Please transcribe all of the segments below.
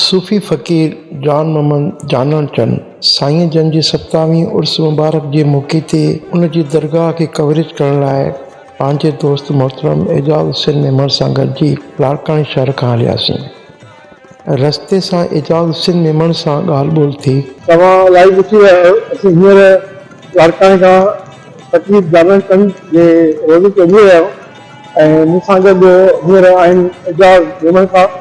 صوفي فقير جان محمد جانڻ چن سائين جن جي ستاوين عرس مبارڪ جي موقعي تي ان جي درگاهه کي ڪوريج ڪرڻ لاء پنهنجي دوست محترم اعجاز حسين ميمڻ سان گڏجي لاڙڪاڻي شهر کان هلياسين. رستي سان اعجاز حسين ميمڻ سان ڳالهه ٻولهه ٿي. توهان لائيو ڏسي رهيا آهيو اسين هينئر لاڙڪاڻي کان فقير جانڻ چن جي روضي تي وڃي رهيا آهيون ۽ مون سان گڏ هينئر آهن اعجاز ميمڻ صاحب.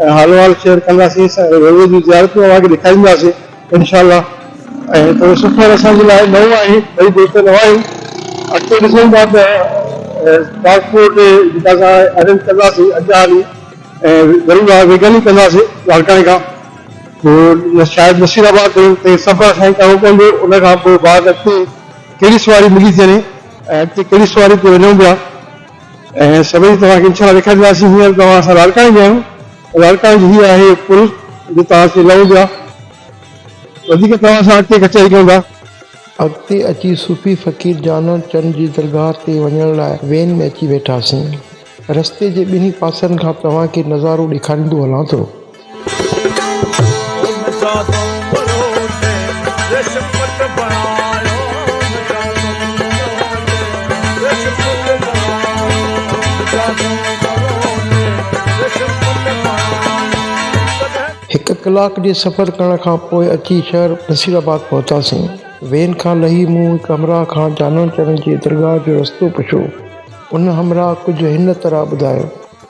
۽ حال و حال شيئر ڪنداسين سائين روضي جون زيارتون اوهان کي ڏيکارينداسين انشاء الله ۽ ٿورو سفر اسان جي لاء نئون آهي ٻئي دوست نئون آهيون اڳتي ڏسون ٿا ته ٽرانسپورٽ جيڪا اسان ارينج ڪنداسين اڳيان هلي ۽ ضرور آهي ويگن ئي ڪنداسين لاڙڪاڻي کان پوء شايد نصير آباد تائين تائين سفر اسان کي ڪرڻو پوندو ان کان پوء بعد اڳتي ڪهڙي سواري ملي ٿي وڃي ۽ اڳتي ڪهڙي سواري تي وڃون پيا. اهي سڀئي توهان کي انشاء الله ڏيکارينداسين هينئر توهان اسان لاڙڪاڻي ۾ آهيون لاڙڪاڻي جي هي آهي پل جي توهان کي لهڻو پيو آهي وڌيڪ توهان سان اڳتي ڪچهري ڪيون ٿا. اڳتي اچي صوفي فقير جانڻ چند جي درگاهه تي وڃڻ لاء وين ۾ اچي ويٺاسين رستي جي ٻنهي پاسن کان توهان کي نظارو ڏيکاريندو هلان ٿو. هڪ ڪلاڪ جي سفر ڪرڻ کان پوء اچي شهر نصير آباد پهتاسين. وين کان لهي مون هڪ همراهه کان جانان چرن جي درگاهه جو رستو پڇيو. ان همراهه ڪجهه هن طرح ٻڌايو.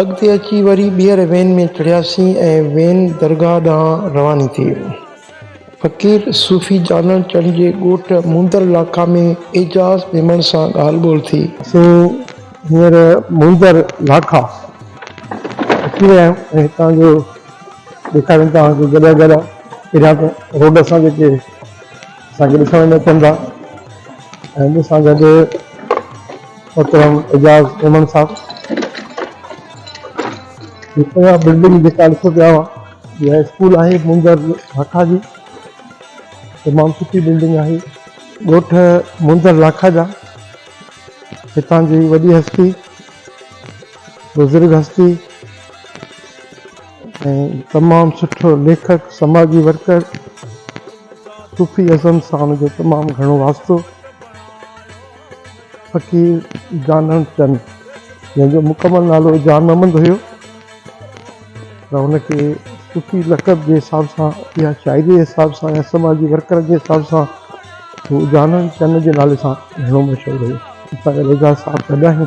اڳتي اچي وري ٻيهر وين ۾ چڙهياسين ۽ وين درگاهه ڏانهن رواني ٿي. فقير صوفي جانڻ چڻ جي ڳوٺ موندر لاکا ۾ اعجاز ميمڻ سان ڳالهه ٻولهه ٿي. اسين هينئر موندر لاکا اچي ويا آهيون ۽ هتان جو ڏيکاريون توهان کي گڏهه گڏهه پهريان ته روڊ سان جيڪي. اسان کي ڏسڻ ۾ اچن ٿا ۽ مون سان گڏ محترم اعجاز مومند صاحب اها بلڊنگ جيڪا ڏسو پيا اها اسڪول آهي منظر لاکا جي تمام سٺي بلڊنگ آهي ڳوٺ منظر لاکا جا هتان جي وڏي هستي بزرگ هستي ۽ تمام سٺو ليکڪ سماجي ورڪر صوفي اعظم سان جو تمام گهڻو واسطو فقير جانڻ چند جنهن جو مڪمل نالو جان محمد هيو پر هن کي صوفي لقب جي حساب سان يا شاعري جي حساب سان يا سماجي ورڪر جي حساب سان هو جانڻ چند جي نالي سان گهڻو مشهور هيو پر اعجاز صاحب تڏهن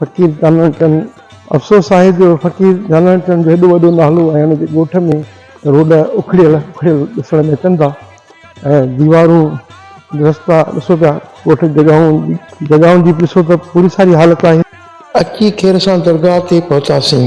فقير ڪانوڙ چند، افسوس آهي جو فقير ڪانوڙ چند جو هيڏو وڏو نالو ۽ ان جي ڳوٺ ۾ روڊ اکڙيل اکڙيل ڏسڻ ۾ اچن ٿا ۽ ديوارون رستا ڏسو پيا ڳوٺ جڳهون جڳهون جي به ڏسو ته پوري ساري حالت آهي. اچي خير سان درگاهه تي پهتاسين.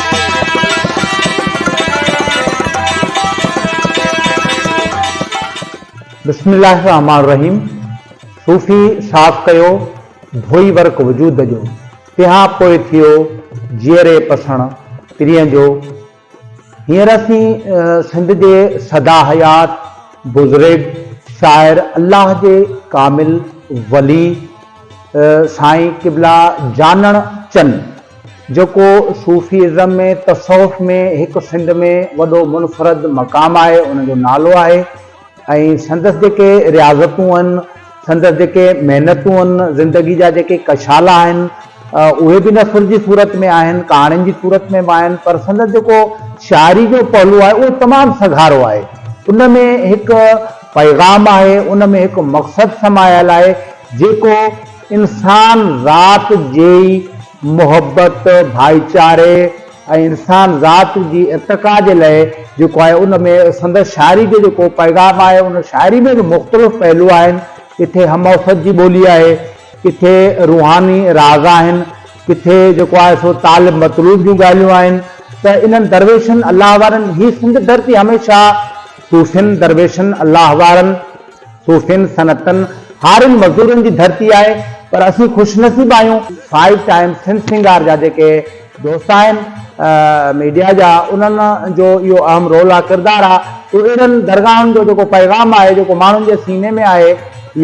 بسم الله الرحمٰن الرحيم صوفي صاف ڪيو ڌوئي ورق وجود جو تنهان پوء ٿيو جيئري پسڻ پرين جو هينئر اسين سنڌ جي سدا حيات بزرگ شاعر الله جي ڪامل ولي سائين قبلا جانڻ چن جيڪو صوفي ازم ۾ تصوف ۾ هڪ سنڌ ۾ وڏو منفرد مقام آهي ان جو نالو آهي ۽ سندس جيڪي رياضتون ان سندس جيڪي محنتون ان زندگي جا جيڪي ڪشالا آهن اهي به نثر جي صورت ۾ آهن ڪهاڻين جي صورت ۾ به آهن پر سندس جيڪو شاعري جو پهلو آهي اهو تمام سگهارو آهي ان ۾ هڪ پيغام آهي ان ۾ هڪ مقصد سمايل آهي جيڪو انسان ذات جي محبت، ڀائيچاري ۽ انسان ذات جي ارتقا جي لئه جيڪو آهي ان ۾ سندس شاعري جو جيڪو پيغام آهي ان شاعري ۾ به مختلف پهلو آهن ڪٿي هم اوسط جي ٻولي آهي ڪٿي روحاني راز آهن ڪٿي جيڪو آهي سو طالب مطلوب جون ڳالهيون آهن ته انهن درويشن الله وارن هي سنڌ ڌرتي هميشه صوفين درويشن الله وارن صوفين، صنعتن، هارين مزدورن جي ڌرتي آهي پر اسين خوش نصيب آهيون فائيو ٽائيمز سنڌ سنگار جا جيڪي دوست آهن ميڊيا جا انهن جو اهو اهم رول آ ڪردار آ تو اهڙن درگاهن جو جيڪو پيغام آهي جيڪو ماڻهن جي سيني ۾ آهي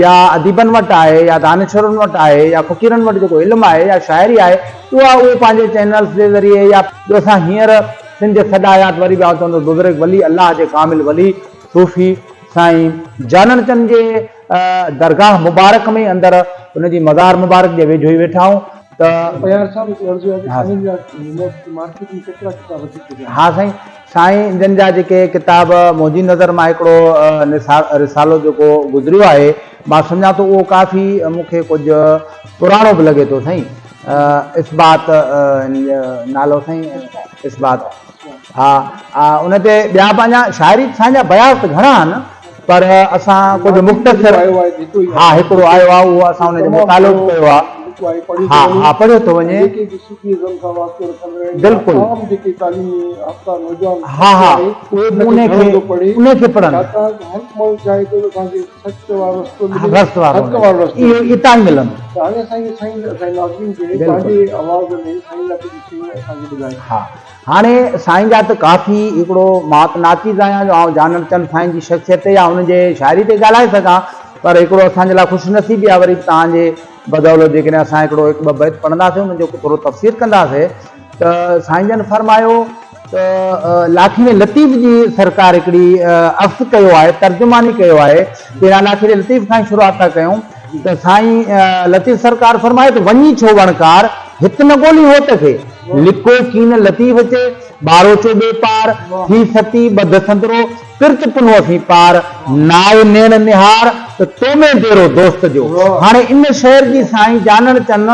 يا اديبن وٽ آهي يا دانشورن وٽ آهي يا فقيرن وٽ جيڪو علم آهي يا شاعري آهي اها اهي پنهنجي چينلز جي ذريعي يا جو اسان هينئر سنڌ جي سڏ آيات وري به آء چوندس بزرگ ولي الله جي ڪامل ولي صوفي سائين جانڻ چند جي درگاهه مبارڪ ۾ اندر ان جي مزار مبارڪ جي ويجهو ئي ويٺا آهون ته. بيار صاحب هڪڙو عرض آهي ته سائين جا مارڪيٽ ۾ ڪيترا ڪتاب ٿي چڪا آهن. ها سائين سائين جن جا جيڪي ڪتاب منهنجي نظر مان هڪڙو رسالو جيڪو گذريو آهي مان سمجهان ٿو اهو ڪافي مون کي ڪجهه پراڻو به لڳي ٿو سائين اثبات نالو سائين اثبات. ها ها ان تي ٻيا پنهنجا شاعري سانجا بياض ته گهڻا آهن پر اسان ڪجهه مختصر ها هڪڙو آيو آهي اهو اسان ان جو مطالعو به ڪيو آهي ها ها پڙهيو ٿو وڃي بلڪل ها ها اهي به ان کي ان کي پڙهن رست وارو اهي اتان ئي ملن ها هاڻي سائين جا ته ڪافي هڪڙو مات ناچيز آهيان جو آئون جانڻ چند سائين جي شخصيت تي يا هن جي شاعري تي ڳالهائي سگهان پر هڪڙو اسان جي لاء خوش نصيبي آهي وري به توهان جي بدولت جيڪڏهن اسان هڪڙو هڪ ٻه بيت پڙهنداسين انهن جو ٿورو تفسير ڪنداسين ته سائين جن فرمايو ته لاکيڙي لطيف جي سرڪار هڪڙي عفظ ڪيو آهي ترجماني ڪيو آهي لاکيڙي لطيف کان ئي شروعات ٿا ڪيون. ته سائين لطيف سرڪار فرمائي ته وڃي ڇو وڻڪار، هت نه ڳولين هوت کي. لڪو ڪين لطيف چي، ٻاروچو ٻي پار، ٿي ستي ٻڌ سندرو، پرچ پنو اسين پار. ناء نيڻ نهار ته تو ۾ ديرو دوست جو. هاڻي ان شعر جي سائين جانڻ چن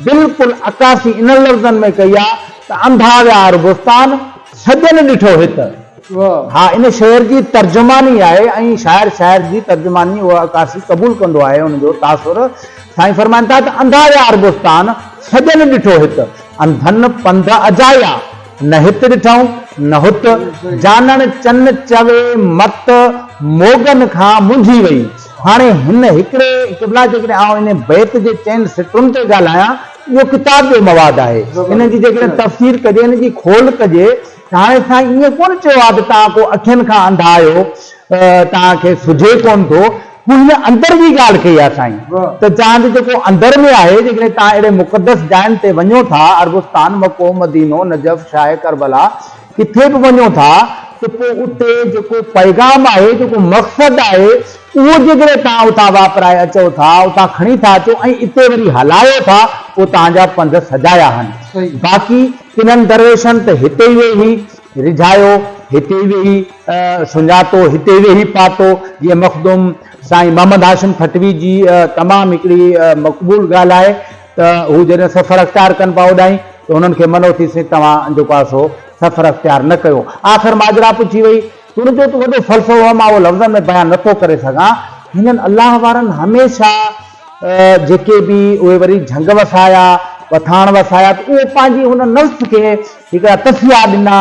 بلڪل عڪاسي انهن لفظن ۾ ڪئي آ ته انڌا ويا عربستان، سڄن ڏٺو هت. ها ان شعر جي ترجماني آهي ۽ شاعر شاعر جي ترجماني اها عڪاسي قبول ڪندو آهي ان جو تاثر سائين فرمائن ٿا ته انڌا يا عربستان سڄڻ ڏٺو هت انڌن پنڌ اجايا نه هت ڏٺئون نه هت جانڻ چن چوي مت موڳن کان منجهي وئي هاڻي هن هڪڙي قبلا جيڪڏهن آئون ان بيت جي چئن سٽرن تي ڳالهايان اهو ڪتاب جو مواد آهي ان جي جيڪڏهن تفسير ڪجي ان جي کول ڪجي هاڻي سائين ائين ڪونه چيو آهي ته توهان ڪو اکين کان انڌا آهيو توهان کي سجهي ڪونه ٿو مون هن اندر جي ڳالهه ڪئي آهي سائين ته توهان جو جيڪو اندر ۾ آهي جيڪڏهن توهان اهڙي مقدس جاين تي وڃو ٿا عربستان مڪو مدينو نجف شاهه ڪربلا ڪٿي به وڃو ٿا ته پوء اتي جيڪو پيغام آهي جيڪو مقصد آهي اهو جيڪڏهن توهان اتان واپرائي اچو ٿا اتان کڻي ٿا اچو ۽ اتي وري هلايو ٿا پوء توهان جا پنڌ سجايا آهن باقي ڪنھن درويشن ته ھتي ويھي رجھايو، ھتي ويھي سڃاتو، ھتي ويھي پاتو، جيئن مخدوم سائين محمد ھاشم ٺٽوي جي تمام ھڪڙي مقبول ڳالھه آھي ته ھو جڏھن سفر اختيار ڪن پئا اوڏانھين ته ھنن کي منئو ٿيس توھان جيڪو آھي سو سفر اختيار نه ڪيو. آخر ماجرا پڇي وئي. تون جو تون وڏو فلسفو آهي مان اهو لفظن ۾ بيان نه ٿو ڪري سگهان. هنن الله وارن هميشه جيڪي به اهي وري جهنگ وسايا، وٿاڻ وسايا ته اهو پنهنجي هن نفس کي هڪڙا تسيا ڏنا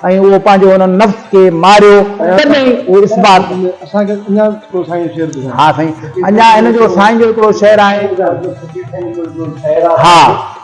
۽ اهو پنهنجو هن نفس کي ماريو تڏهن اهو اثبات اسان کي اڃا هڪڙو سائين جو شعر ٻڌايو. ها سائين اڃا هن جو سائين جو هڪڙو شعر آهي. ها.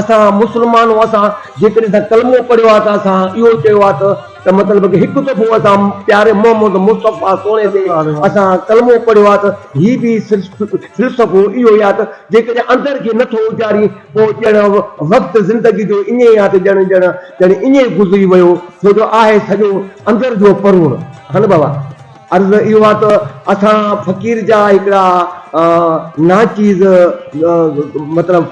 اسان مسلمان هون اسان جيڪڏهن اسان ڪلمو پڙهيو آهي ته اسان اهو چيو آهي ته ته مطلب ته هڪ دفعو اسان پياري محمد مصطفيٰ سهڻي تي اسان ڪلمو پڙهيو آهي ته هي به فلسفو اهو ئي آهي ته جيڪڏهن اندر کي نه ٿو اجارين پوء ڄڻ وقت زندگي جو ائين ئي آهي ته ڄڻ ڄڻ ڄڻ ائين ئي گذري ويو ڇو جو آهي سڄو اندر جو پروڙ هن بابا. عرض اهو آ ته اسان فقير جا هڪڙا ناچيز مطلب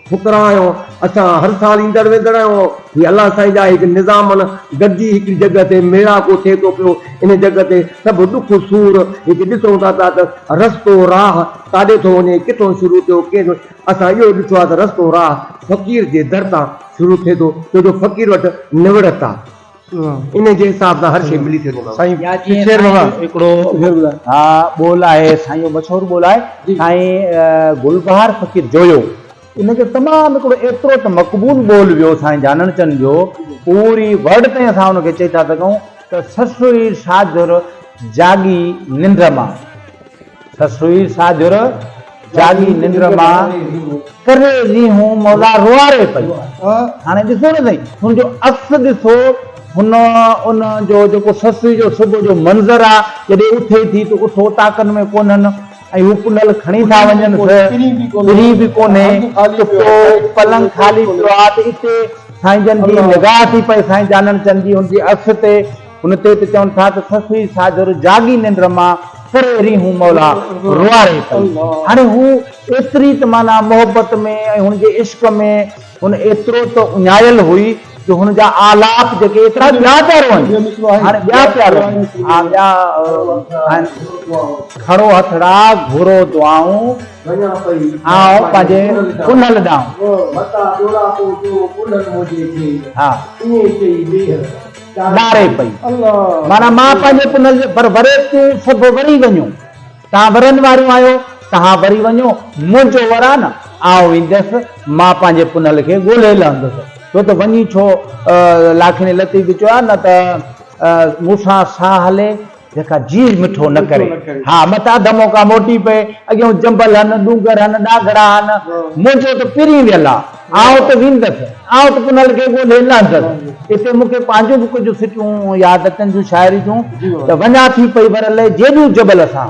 فقرا آهيون. اسان هر سال ايندڙ ويندڙ آهيون. هي الله سائين جا هڪ نظامن گڏجي هڪڙي جڳهه تي ميڙاڪو ٿئي ٿو پيو. ان جڳهه تي سڀ ڏک سور هڪ ڏسون ٿا پيا ته رستو راهه ڪاڏي ٿو وڃي، ڪٿون شروع ٿيو ڪين اسان اهو ڏٺو آ ته رستو راهه فقير جي در تان شروع ٿئي ٿو ڇو جو فقير وٽ نوڙت آ. انهيء جي حساب سان هر شيء ملي سگهي ٿو سائين شير بابا هڪڙو ها ٻول آهي سائين جو مشهور ٻول آهي سائين گل بهار فقير جويو ان جو تمام هڪڙو ايترو ته مقبول ٻول ويو سائين جانڻ چن جو پوري ورلڊ تائين اسان ان کي چئي ٿا سگهون ته سسئي ساجهر جاڳي ننڊ مان. سس هئي ساجھر جاڳي ننڊ مان ڪري رينهون مولا روئاري پئي. هاڻي ڏسو نه سائين هن جو عڪس ڏسو هن ان جو جيڪو سس جو صبح جو منظر آ جڏهن اٿي ٿي ته اٺ اوطاقن ۾ ڪونهن ۽ هو ڪنهل کڻي ٿا وڃن سه پري به ڪونهي ته پو پلنگ خالي پيو آ ته اتي سائين جن جي نگاهه ٿي پئي سائين جانڻ چند جي هن جي عڪس تي. ان تي ته چون ٿا ته سسئي ساجھر جاڳي ننڊ مان ڪري رينھون مولا روئاري پئي. هاڻي هو ايتري ته معنيٰ محبت ۾ ۽ هن جي عشق ۾ هن ايترو ته اڃايل هئي جو هن جا آلاپ جيڪي ايترا ٻيا پيا روئن هاڻي ٻيا پيا روئن ها ٻيا آهن کڻو هٿڙا گھرو دعائون آئون پنهنجي ڪنھل ڏانهن. ڏاري پئي، معنيٰ مان پنهنجي پنهل جي ڀر وري تون سگهو وري وڃو، تهان ورن واريون آهيو، تهان وري وڃو، منهنجو ور آ نه، آء وينديس، مان پنهنجي پنهل کي ڳولهي لهندس، ڇو ته وڃي ڇو، لاکيني لطيف به چيو آهي نه ته مون سان ساهه هلي، جيڪا جيء مٺو نه ڪري. ها متان اڌ موقعا موٽي پئي. اڳيون جنبل هن، ڏونگر هن، ڏاگهڙا هن. منهنجو ته پرين ويل آ. آئون ته ويندس. آئون ته پنهل کي ڳولهي لهندس. اتي مون کي پنهنجون به ڪجهه سٽون ياد اچن ٿيون شاعري جون ته وڃان ٿي پئي ورلي جيڏيون جبل سان.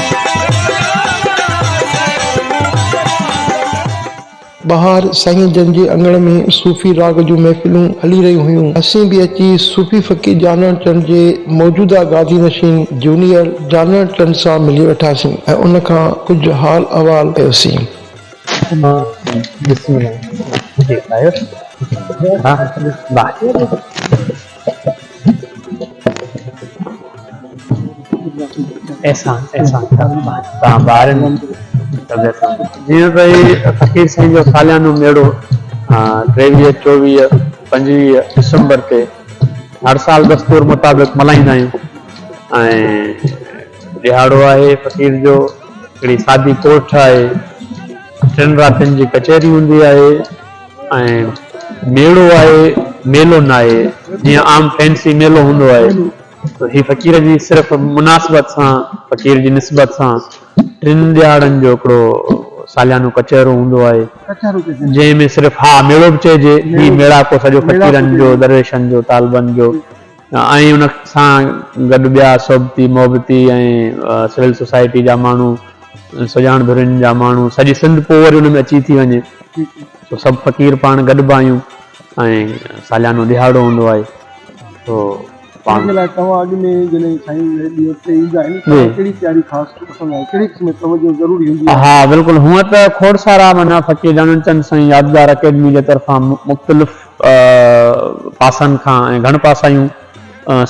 ٻاهر سائين جن جي اڱڻ ۾ صوفي راڳ جون محفلون هلي رهيون هيون. اسين به اچي صوفي فقير جانڻ چنڊ جي موجوده گادي نشين جونيئر جانڻ چنڊ سان ملي ويٺاسين ۽ ان کان ڪجهه حال احوال ڪيوسين. احسان احسان تان بار ۾ جيئن ته هي فقير سائين جو ساليانو ميڙو ٽيويهه چوويهه پنجويهه ڊسمبر تي هر سال دستور مطابق ملهائيندا آهيون ۽ ڏهاڙو آهي فقير جو هڪڙي سادي ڪوٺ آهي ٽن راتين جي ڪچهري هوندي آهي ۽ ميڙو آهي ميلو ناهي جيئن عام فينسي ميلو هوندو آهي ته هي فقير جي صرف مناسبت سان فقير جي نسبت سان ٽن ڏهاڙن جو هڪڙو ساليانو ڪچهرو هوندو آهي جنهن ۾ صرف ها ميڙو به چئجي هي ميڙاڪو سڄو فقيرن جو درويشن جو طالبن جو ائين ان سان گڏ ٻيا صحبتي محبتي ۽ سول سوسائٽي جا ماڻهو سڄاڻ ڌرين جا ماڻهو سڄي سنڌ پوء وري ان ۾ اچي ٿي وڃي سو سڀ فقير پاڻ گڏبا آهيون ۽ ساليانو ڏهاڙو هوندو آهي سو پاڻ جي لاء توهان اڳ ۾ جڏهن سائين جي ڏينهن تي ايندا آهن ته ڪهڙي تياري خاص پسند آهي ڪهڙي قسم جي توجهه ضروري هوندي آهي ها بلڪل هونئن ته کوڙ سارا معنيٰ فقير جانڻ چند سائين يادگار اڪيڊمي جي طرفان مختلف پاسن کان ۽ گهڻ پاسايون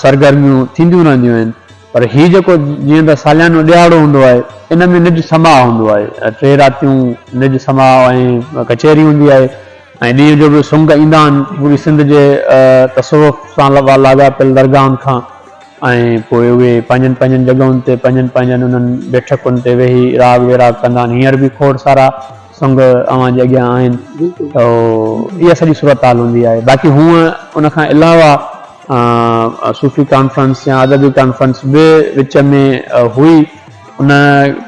سرگرميون ٿينديون رهنديون آهن پر هي جيڪو جيئن ته ساليانو ڏهاڙو هوندو آهي ان ۾ نج سماء هوندو آهي ٽي راتيون نج سماء ۽ ڪچهري هوندي آهي ۽ ڏينهن جو به سنگ ايندا آهن پوري سنڌ جي تصوف سان لاڳاپيل درگاهن کان ۽ پوء اهي پنهنجن پنهنجن جڳهن تي پنهنجن پنهنجن انهن بيٺڪن تي ويهي راڳ ويراڳ ڪندا آهن هينئر به کوڙ سارا سنگ اوهان جي اڳيان آهن ته اها سڄي صورتحال هوندي آهي باقي هونء ان کان علاوه صوفي ڪانفرنس يا ادبي ڪانفرنس به وچ ۾ هئي ان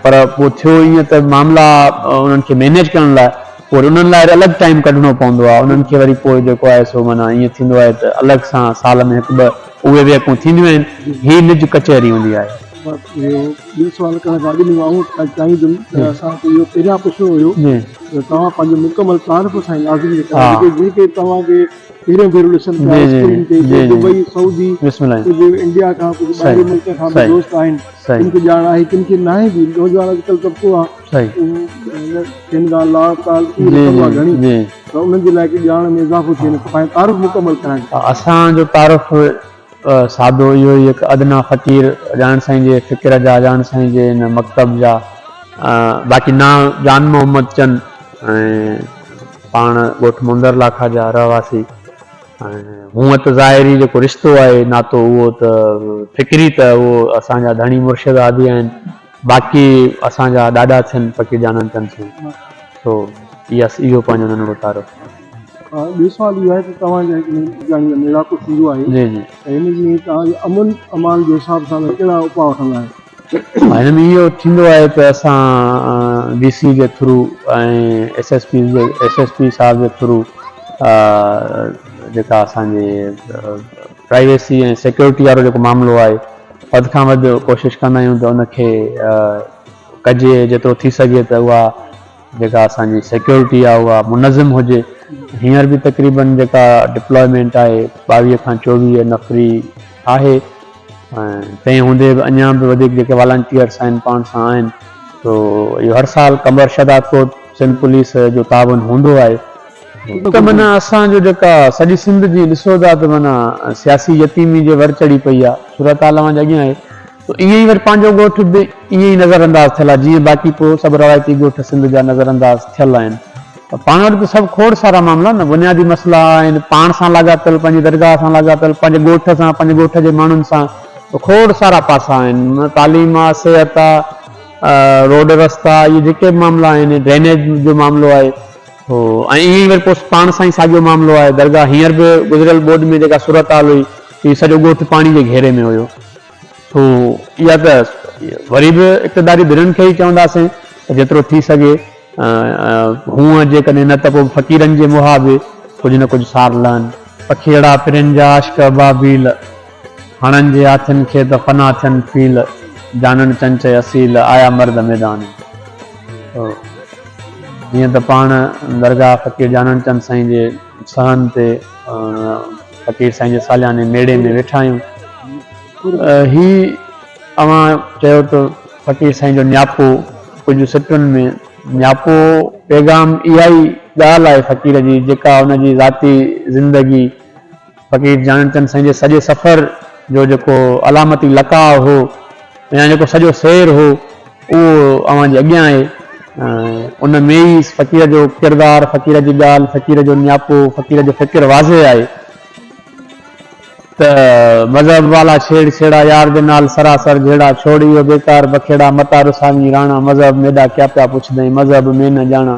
پر پوء ٿيو ائين ته معاملا انهن کي مينيج ڪرڻ لاء پوء وري انهن لاء وري الڳ ٽائيم ڪڍڻو پوندو آهي انهن کي وري پوء جيڪو آهي سو معنيٰ ائين ٿيندو آهي ته الڳ سان سال ۾ هڪ ٻه اهي ويهڪون ٿينديون آهن هي نج ڪچهري هوندي آهي ٻيو سوال ڪرڻ کان اڳ ۾ آئون اڄ چاهيندم ته اسان کي اهو پهريان پڇڻو هيو ته توهان پنهنجو مڪمل تعارف اسان کي لازمي ڪرايو جن کي توهان کي پهريون ڀيرو ڏسن پيا اسڪرين تي جي دبئي سعودي ڪجهه انڊيا کان ڪجهه ٻاهرين ملڪن کان به دوست آهن ڪن کي ڄاڻ آهي ڪن کي ناهي به نوجوان اڄڪلهه طبقو آهي اهو ڪن کان لا تعلقي رکندو آهي گهڻي ته انهن جي لاء ڪي ڄاڻ ۾ اضافو ٿئي پنهنجو تعارف مڪمل ڪرائين اسان جو تعارف سادو اهو ئي هڪ ادنيٰ فقير اجاڻ سائين جي فڪر جا اجاڻ سائين جي ان مڪتب جا باقي نانء جان محمد چن ۽ پاڻ ڳوٺ موندر لاکا جا رهواسي ۽ هونء ته ظاهري جيڪو رشتو آهي ناتو اهو ته فڪري ته اهو اسان جا ڌڻي مرشد هادي آهن باقي اسان جا ڏاڏا ٿين فقير جانڻ چن سائين سو اهو پنهنجو ننڍڙو تعارف. ٻي سوال اهو آهي ته توهان جي جهڙو ميڙاڪو ٿيندو آهي جي جي ته هن ۾ توهان جي امن امان جي حساب سان ڪهڙا اپاء وٺندا آهيو؟ هن ۾ اهو ٿيندو آهي ته اسان ڊي سي جي through ۽ S S P S S P صاحب جي ٿرو جيڪا اسان جي پرائيويسي ۽ سيڪيورٽي وارو جيڪو معاملو آهي وڌ کان وڌ ڪوشش ڪندا آهيون ته ان کي ڪجي جيترو ٿي سگهي ته اها جيڪا اسان جي سيڪيورٽي آهي اها منظم هجي، هينئر به تقريبن جيڪا ڊپلائمينٽ آهي ٻاويهه کان چوويهه نفري آهي ۽ تنهن هوندي به اڃا به وڌيڪ جيڪي والنٽيئرس آهن پاڻ سان آهن سو اهو هر سال قمبر شهداد ڪوٽ سنڌ پوليس جو تعاون هوندو آهي. ته معنيٰ اسان جو جيڪا سڄي سنڌ جي ڏسو ٿا ته معنيٰ سياسي يتيمي جي ور چڙهي پئي آهي صورتحال اوهان جي اڳيان آهي. سو اهي ئي وري پنهنجو ڳوٺ به ائين ئي نظر انداز ٿيل آهي جيئن باقي ڪو سڀ روايتي ڳوٺ سنڌ جا نظر انداز ٿيل آهن پر پاڻ وٽ ته سڀ کوڙ سارا معاملا نه بنيادي مسئلا آهن پاڻ سان لاڳاپيل پنهنجي درگاهه سان لاڳاپيل پنهنجي ڳوٺ سان پنهنجي ڳوٺ جي ماڻهن سان کوڙ سارا پاسا آهن تعليم آ صحت آ روڊ رستا اهي جيڪي به معاملا آهن ڊرينيج جو معاملو آهي سو ۽ ائين ئي وري پوء پاڻ سان ئي ساڳيو معاملو آهي درگاهه هينئر به گذريل ٻوڏ ۾ جيڪا صورتحال هئي هي سڄو ڳوٺ پاڻي جي گهيري ۾ هيو. ٿو يا ته وري به اقتداري ڌرين کي ئي چونداسين ته جيترو ٿي سگهي هونء جيڪڏهن نه ته پوء فقيرن جي مها به ڪجهه نه ڪجهه سار لهن. پکيئڙا پرين جا عاشق ابابيل، هڻن جي هاٿين کي ته فنا ٿين فيل، جانڻ چنچئي اصيل، آيا مرد ميدان. جيئن ته پاڻ درگاهه فقير جانڻ چند سائين جي. سهن تي فقير سائين جي سالياني ميڙي ۾ ويٺا آهيون هي اوهان چيو ته فقير سائين جو نياپو ڪجهه سٽن ۾ نياپو پيغام اها ئي ڳالهه آهي فقير جي جيڪا ان جي ذاتي زندگي فقير جانڻ چند سائين جي سڄي سفر جو جيڪو علامتي لقاء هو يا جيڪو سڄو سير هو اهو اوهان جي اڳيان آهي ۽ ان ۾ ئي فقير جو ڪردار، فقير جي ڳالهه، فقير جو نياپو، فقير جو فڪر واضح آهي ته مذهب والا ڇيڙ ڇيڙا يار دي نال سراسر جهيڙا ڇوڙ اهو بيڪار بکيڙا متان رساوين راڻا مذهب ميڏا ڪيا پيا پڇدئين مذهب مين نه ڄاڻا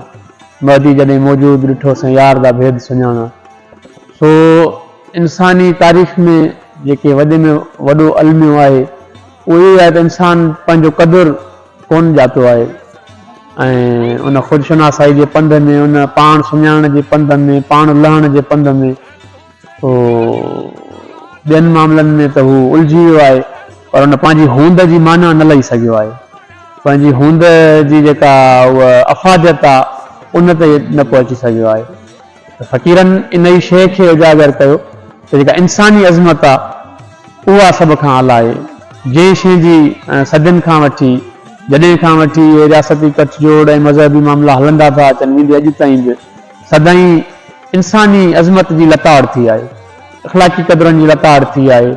مهدي جڏهن موجود ڏٺو سين يار دا ڀيد سڃاڻا. سو انساني تاريخ ۾ جيڪي وڏي ۾ وڏو الميو آهي اهو اهو ئي آهي ته انسان پنهنجو قدر ڪونه ڄاتو آهي ۽ ان خودشناسائي جي پنڌ ۾ ان پاڻ سڃاڻڻ جي پنڌ ۾ پاڻ لهڻ جي پنڌ ۾ سو ٻين معاملن ۾ ته هو الجهي ويو آهي پر ان پنهنجي هوند جي معنيٰ نه لهي سگهيو آهي پنهنجي هوند جي جيڪا اها افاديت آهي ان تي نه پهچي سگهيو آهي ته فقيرن ان ئي شيء کي اجاگر ڪيو ته جيڪا انساني عظمت آ، اها سڀ کان اعليٰ آهي، جنهن شيء جي صدين کان وٺي، جڏهن کان وٺي اهي رياستي ڪٺ جوڙ ۽ مذهبي معاملا هلندا ٿا اچن ويندي اڄ تائين به سدائين انساني عظمت جي لتاڙ ٿي آهي، اخلاقي قدرن جي لتاڙ ٿي آهي،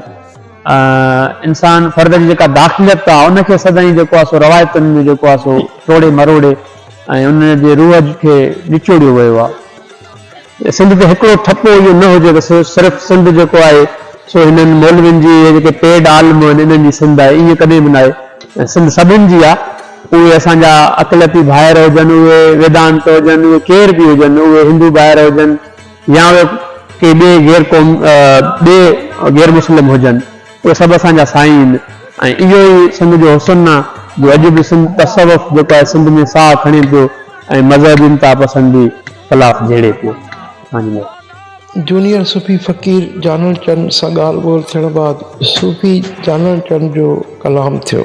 انسان فرد جي جيڪا داخليت آ، ان کي سدائين جيڪو آ سو روايتن ۾ جيڪو آ سو ٽوڙي مروڙي، ۽ ان جي روح کي نچوڙيو ويو آهي. سنڌ تي هڪڙو ٺپو اهو نه هجي ته صرف سنڌ جيڪو آهي سو هنن مولوين جي اهي جيڪي پيڊ عالم آهن انهن جي سنڌ آهي ائين ڪڏهن به نه آهي سنڌ سڀن جي آهي اهي اسان جا اقليتي ڀائر هجن اهي ويدانت هجن اهي ڪير به هجن اهي هندو ڀائر هجن يا اهي ڪي ٻئي غير قوم ٻئي غير مسلم هجن. اهي سڀ اسان جا سائين آهن ۽ اهو ئي سنڌ جو حسن آهي جو اڄ به سنڌ تصوف جيڪو آهي سنڌ ۾ ساهه کڻي پيو ۽ مذهبي انتها پسندي خلاف جهيڙي پيو. اسان جي. جونيئر صوفي فقير جانڻ چند سان ڳالهه ٻولهه ٿيڻ بعد صوفي جانڻ چند جو ڪلام ٿيو.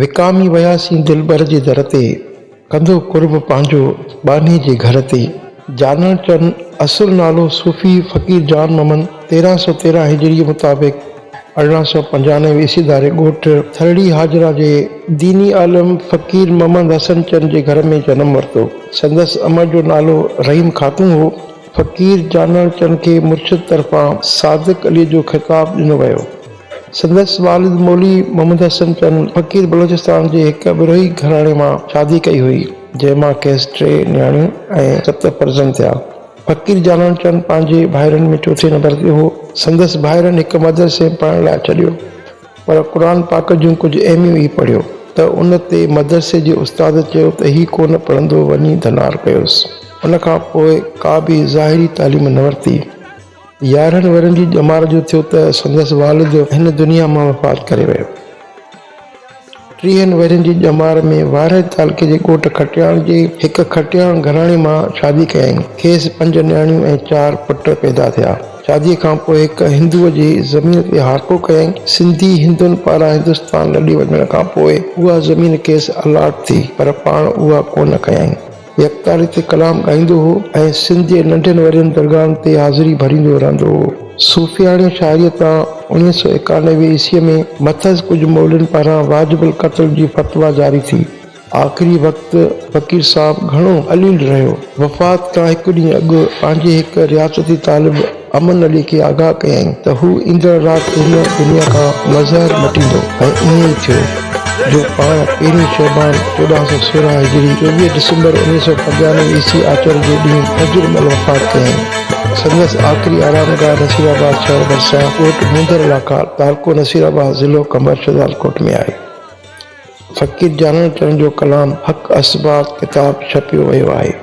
وڪامي وياسين دلبر جي در تي، ڪندو قرب پنهنجو ٻانهي جي گهر تي. جانڻ چون اصل نالو صوفي فقير جان محمد تيرهن سؤ تيرهن هجري مطابق، ارڙهن سؤ پنجانوي عيسوي ڌاري ڳوٺ ٿرڙي حاجرا جي ديني عالم فقير محمد حسن چن جي گهر ۾ جنم ورتو. سندس امڙ جو نالو رحيم خاتون هو. فقير جانڻ چن کي مرشد طرفان صادق عليء جو خطاب ڏنو ويو. سندس والد مولوي محمد حسن چن فقير بلوچستان جي هڪ بروهي گهراڻي مان شادي ڪئي هئي، جنهن مان کيس ٽي نياڻيون ۽ ست فرزند ٿيا. فقير جانان چند پنهنجي ڀائرن ۾ چوٿين نمبر تي هو. سندس ڀائرن هڪ مدرسي ۾ پڙهڻ لاء ڇڏيو، پر قرآن پاڪ جون ڪجهه اهميون ئي پڙهيو ته ان تي مدرسي جي استاد چيو ته هي ڪونه پڙهندو وڃي ڌنار ڪيوس. ان کان پوء ڪا به ظاهري تعليم نه ورتي. يارهن ورهين جي ڄمار جو ٿيو ته سندس والد هن دنيا مان وفات ڪري ويو. ٽيهن ورهين جي ڄمار ۾ وارهي تعلقي جي ڳوٺ کٽياڻ جي هڪ کٽياڻ گهراڻي مان شادي ڪيائين. کيس پنج نياڻيون ۽ چار پٽ پيدا ٿيا. شاديء کان پوء هڪ هندوء جي زمين تي هاڪو ڪيائين. سنڌي هندن پاران هندستان لڏي وڃڻ کان پوء اها زمين کيس الاٽ ٿي، پر پاڻ اها ڪونه ڪيائين. يڪتاري تي ڪلام ڳائيندو هو ۽ سنڌ جي ننڍين وڏين درگاهن تي حاضري ڀريندو رهندو هو. صوفياڻي شاعريء تان اڻ ويهه سؤ ايڪانوي عيسويء ۾ مٿس ڪجهه مولين پاران واجب القتل جي فتويٰ جاري ٿي. آخري وقت فقير صاحب گهڻو عليل رهيو. وفات کان هڪ ڏينهن اڳ پنهنجي هڪ رياستي طالب، امن علي کي آگاهه ڪيائين ته هو ايندڙ رات هن دنيا کان مظهر مٽيندو ۽ ائين ئي ٿيو جو پاڻ پهرين شعبان چوڏهن سؤ سورهن هجري چوويهه ڊسمبر اڻويهه سؤ پنجانوي عيسوي آچر جي ڏينهن فجر مهل وفات ڪيائين. سندس آخري آرام گاهه نصير آباد شهر ڀرسان ڳوٺ مينڌر لاکار، تعلقو نصير آباد، ضلع قمبر شهدادڪوٽ ۾ آهي. فقير جانڻ چرن جو ڪلام حق اسبات ڪتاب ڇپيو ويو آهي.